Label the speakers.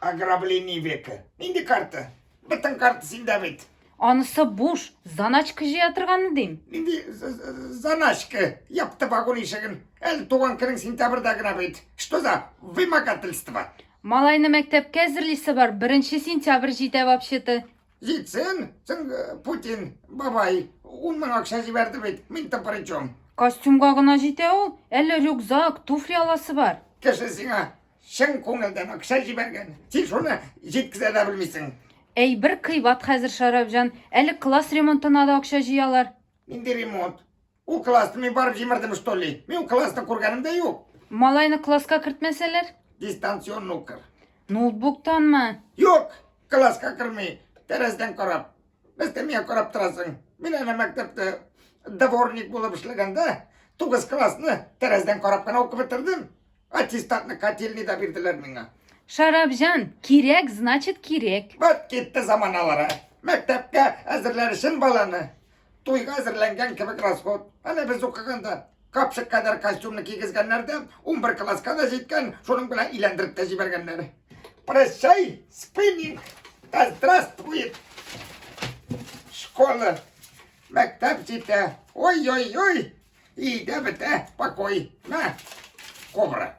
Speaker 1: Ограбление века. Нинди карта? Бөтен карта синдә бит. Анысы буш,
Speaker 2: заначка җыя торганы дим. Нинди
Speaker 1: заначка? Япты вагон ишеген. Әле туган көнең сентябрьдә генә бит. Что за вымогательство? Малайны
Speaker 2: мәктәпкә әзерлисе бар. Беренче сентябрь җитә вообще-то. Җитсен,
Speaker 1: син э, Путин, бабай, ун мең акча җибәрде бит. Мин-то при чем? Костюмга гына
Speaker 2: җитә ул. Әле рюкзак, туфли аласы бар. Кеше сиңа
Speaker 1: чын күңелдән акча җибәргән. Син шуны җиткезә дә белмисең. Әй, бер кыйбат
Speaker 2: хәзер, Шәрәфҗан. Әле класс ремонтына да акча җыялар. Нинди ремонт?
Speaker 1: Ул классны мин барып җимердем, что ли? Мин ул классны күргәнем дә юк. Малайны класска
Speaker 2: кертмәсәләр? Дистанцион
Speaker 1: укыр. Ноутбуктанмы?
Speaker 2: Юк,
Speaker 1: класска керми, тәрәздән карап. Без дә миңа карап торасың. Мин әнә мәктәптә дворник булып эшләгәндә, тугыз классны тәрәздән карап кына укып бетердем. Аттестатны котельный да бирделәр миңа. Шарабҗан,
Speaker 2: кирәк, значит кирәк. Вот китте
Speaker 1: заманалары. Мәктәпкә әзерләр өчен баланы. Туйга әзерләнгән кебек расход. Әнә без укыганда капчык кадәр костюмны кигезгәннәр дә, 11 класска да җиткән, шуның белән иләндереп тә җибәргәннәр. Прощай, спиннинг, да здравствует школа. Мәктәп җитә. Ой-ой-ой, И да бетә, покой. На, кобра.